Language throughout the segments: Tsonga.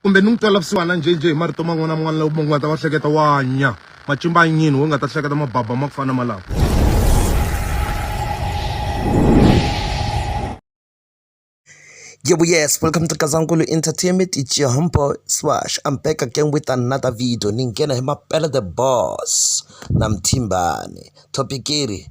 kumbe ni n'wi twela vusiwana njhe njhe hi marito man'wana na man'wana lawa munhu nga ta va hleketa wa nya macimba a nyini wo nga ta hleketa mababa ma ku fana malawo Yebo, yes, welcome to Kazankulu Entertainment. It's your humble Swash. I'm back again with another video. Ningena hi mapela the boss na mthimbane. Topic iri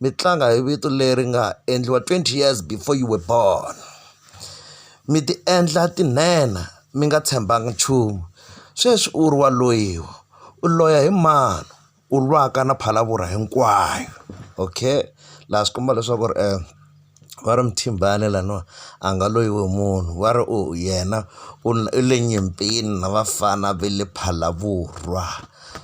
mi tlanga hi vito leri nga endliwa twenty years before you were born. Mi ti endla tinhenha mi nga tshembanga nchumu, sweswi u ri wa loyiwa, u loya hi mani? U lwaka na phalavurha hinkwayo. Okay? Laha swi komba leswaku ri . va ri Mthimbani laniwa a nga loyiwi hi munhu va ri u yena u u le nyimpini na vafana ve le Phalaborwa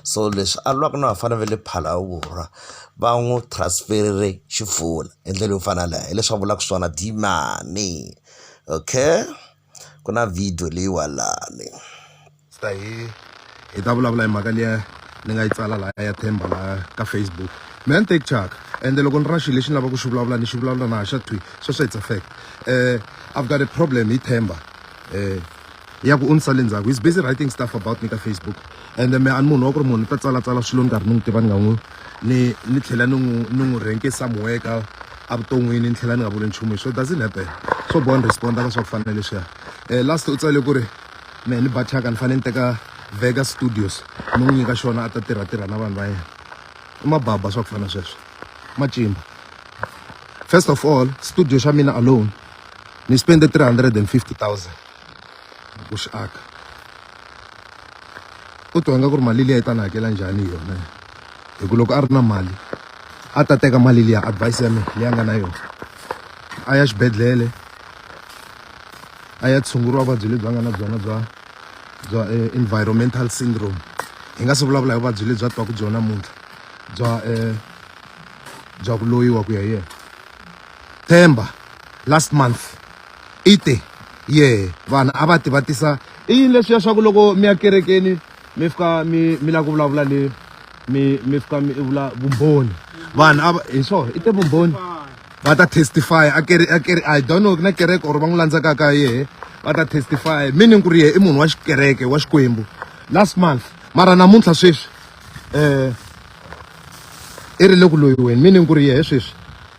so leswi a lwaka na vafana ve le Phalaborwa va n'wu transfer-ile Xifuna hi ndlela yo fana na yaleswi a vulaka swona Dimani okay. ku na video leyiwalani hi hi ta vulavula hi mhaka liya ni nga yi tsala laya ya themba laya ka facebook mina ni take chaka ende loko ni ra xilo lexi ni lavaka ku xi vulavula ni xi vulavula na ha xa thwi sweswo it's a fact um i've got a problem hi themba um ya ku u ni sale ndzhaku he's busy writing stuff about me ka facebook ende me a ni munhu wa ku ri munhu ni ta tsalatsala swilo ni karhi ni n'wi tiva ni nga n'wi ni ni tlhela ni n'wi ni n'wi rhenkisa muweka evuton'wini ni tlhela ni nga vuli nchumu hi swo doesn't happen swo boha ni responda ka swa ku fana na leswiya um last u tsale ku ri mehe ni bathaka ni fanele ni teka vega studios ni n'wi nyika xona a ta tirha tirha na vanhu va yena i mababa swa ku fana sweswo macimba first of all studio xa mina alone ni spende three hundred and fifty thousand ku swi aka u twa nga ku ri mali liya yi ta ni hakela njhani yona hi ku loko a ri na mali a ta teka mali liya advice ya mina leyi a nga na yona a ya xibedhlele a ya tshunguriwa vuvabyi lebyi a nga na byona bya bya eh, environmental syndrome hi nga se vulavula hi vuvabyi lebyi a twaka byona muntlha bya um bya ku loyiwa ku ya yena themba last month i te ye vanhu a va tivatisa i yini leswiya swa ku loko mi ya kerekeni mi fika mi mi lava ku vulavula ni mi mi fika mi vula vumbhoni vanhu a hi swona i te vumbhoni va ta testify a kere a kere i don't know na kereke or va n'wi landzaka ka yehe va ta testify meaning ku ri yehe i munhu wa xikereke wa xikwembu last month mara namuntlha sweswi um i ri le ku loyiweni meaning ku ri yehe sweswi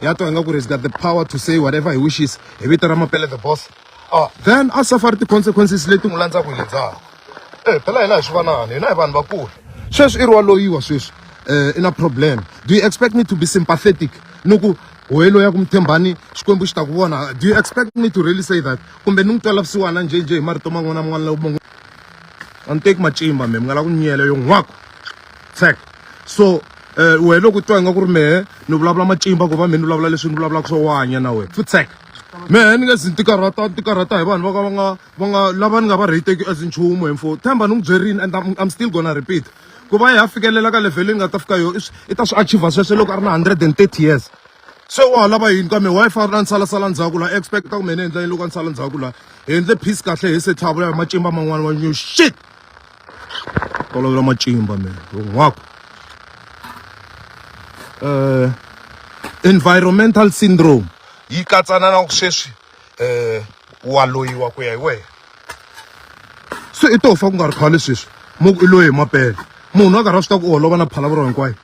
ya twa ingaku ri got the power to say whatever he wishes hi vito ra mapele the boss uh, then a safari ti-consequences leti n'wi landzaka hi le ndzhaku e eh, phela hina hi swi vanani hina hi vanhu vakulu sweswi i ri wa loyiwa sweswi um i na problem do you expect me to be sympathetic ni ku hoyi loyi ya ku mi tshembani xikwembu xi ta ku vona do you expect me to really say that kumbe ni n'wi twela vusiwana njhenjhe hi marito man'wana man'wana lawo man'wana a ni teki macimba me mi nga la ku nyela yo n'wako sec so eh, wena loko u twa ingaku ri mehe ni vulavula macimba ku va mehe ni vulavula leswi ni vulavulaka swo wanya na wena futsek mehe ni nge zi ni tikarhata ni tikarhata hi vanhu va ka va nga va nga lava ni nga va reyiteki as nchumu hi mfo themba ni n'wi byerini and I'm, I'm still gonna repeat ku va hi ya fikelela ka level leyi ni nga ta fika yo i swi- i ta swi achiever sweswo loko a ri na 130 years se wa ha lava yini ka mehe wa yi fana na ni salasala ndzhaku laha expecta ku mehe ni endla yini loko a ni sala ndzhaku laha hi endle peace kahle hi se tlhavula ya macimba man'wana wa new shit tolovela macimba mina hinkwako um eh, environmental syndrome yi katsana na sweswi um wa loyiwa ku ya hi wena se i to fa ku nga ri khale sweswi mo ku i loyi hi mapele munhu a karhi a swi ta ku u holova na phalavuro hinkwayo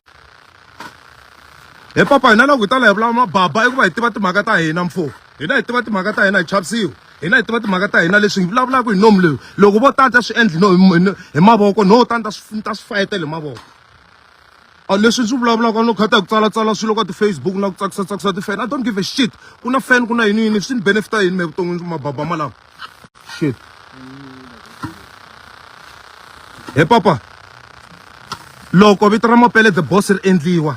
he papa hina loko hi ta la hi vulava mababa i ku va hi tiva timhaka ta hina mfumo hina hi tiva timhaka ta hina hi chavisiwa hina hi tiva timhaka ta hina leswi hi vulavulaka hi nomu leyi loko vo tanta swi endli no hi mavoko no tanta swi ta swi fayetela hi mavoko a leswi swi vulavulaka no khata hi ku tsalatsala swilo ka ti-facebook na ku tsakisa tsakisa ti-fan i don't give a shit ku na fan ku na yini yini swi ni benefita yini me vuton'wini mababa malawa shit he papa loko vito ra mapele the boss ri endliwa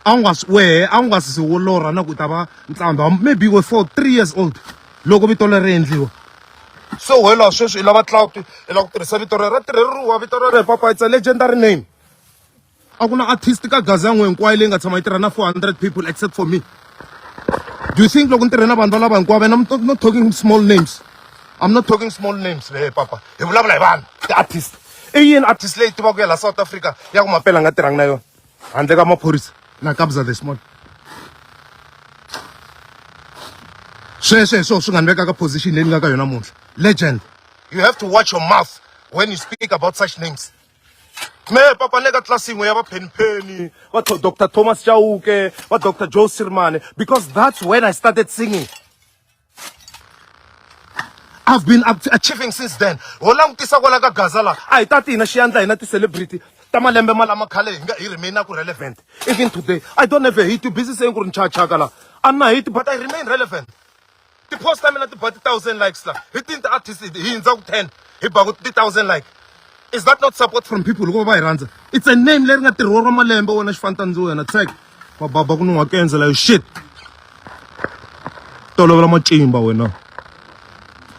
a wu nga swi wehe a wu nga si wo lorha na ku ta va ntsambha maybe we for three years old loko vito leri ri endliwa so wela sweswi i lava cloud i lava ku tirhisa vito rero ra tirheriwa vito rero hi papa it's a legendary name a ku na artist ka gazi ya n'we hinkwayo leyi nga tshama yi tirha na four hundred people except for me do you think loko ni tirhe na vanhu valava hinkwavo and i'm not, not talking small names i'm not talking small names le papa hi vulavula hi vanhu ti-artist i yini artist leyi tivaka ya laha south africa ya ku mapela a nga tirhangi na yona handle ka maphorisa na kabza this morning sweswe hi swona swi nga ni veka ka position leyi ni nga ka yona muntlha legend you have to watch your mouth when you speak about such names me papa ni le ka tlasi yin'we ya va phenipeni va Tho- dr thomas chauke va dr joe sirmane because that's when i started singing I've been achieving since then ho langutisa kwala ka gaza la a hi ta ti hina xiyandla hina ti-celebrity ta malembe malama khale hi nga hi remain ku relevant even today i don't have a hit busy saying ku ri nchachaka la a na hit but i remain relevant ti-post ta mina ti ba ti-thousand likes la hi tini ti-artist hi hindza ku ten hi ba ku ti-thousand like is that not support from people loko va va hi rhandza it's a name leri nga tirhiwa ra malembe wena xifantandziwa yena tsek va baba ku ni nga ku endzela yo shit tolovela matimba wena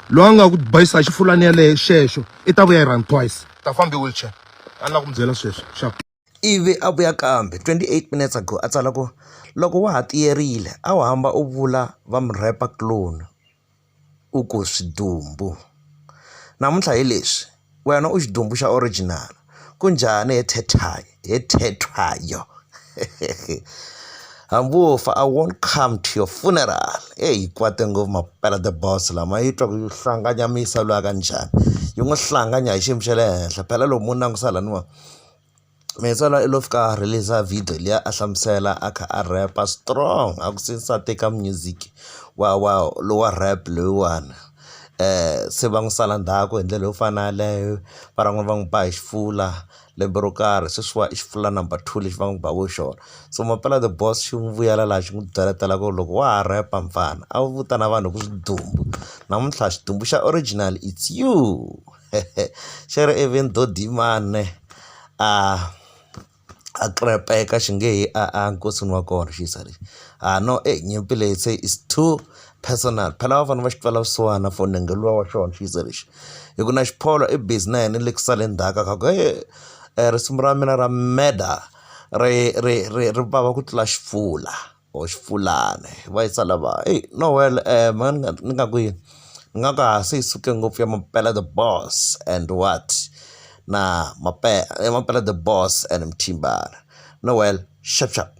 loyi a nga ku bayisa hi xifulani yaleyo xexo i ta vuya yi run twice ta fambi wheelchair a ni la ku mi byela sweswo xap ivi a vuya kambe 28 minutes ago a tsala ku loko wa ha tiyerile a wu hamba u vula va mi rhepa clone u ku swidumbu. Namuntlha hi leswi, wena u xidumbu xa original. Ku njhani he Tethayo, he Tethayo? Hambi wo fa I won't come to your funeral. Eyi yi kwate ngopfu mampela the boss la, ma yi twa ku yi hlanganyamisa lwiya ka njhani, yi n'wi hlanganya hi xiyimo xa le henhla. Phela loko mo langutisa lahawani wa. Metsana i love ka release video liya a hlamusela a kha a rap-a strong a ku since a teka music wa wa lowa rap loyiwani se va n'wi sala ndzhaku hi ndlela yo fana yaleyo van'wani va n'wi ba hi xifula lembe ro karhi sweswiwa i xifula number two lexi va n'wi baka hi xona so mampela the boss xi n'wi vuyela laha xi n'wi byeletela ku loko wa ha rap-a mfana a wu vitana vanhu hi ku swidumbu namuntlha xidumbu xa original it's you. xi ri even though Dimane a a krepeka xi nge he a a nkosini wa kona xisa lexi ha no e nyimpi leyi se is too personal phela a va fanele va xi twela vusiwana for nenge luwa wa xona xisa lexi hi ku na Xiphola i busy na yena le ku sale ndzhaku a ku he risimu ra mina ra murder ri ri ri ri vava ku tlula xifula. or Xipfulani va yisa lava eyi no well mhani ni nga ni nga ku yini ni nga ku a se yi suke ngopfu ya mampela the boss and what na mampela the boss and Mthimbani no well shap shap.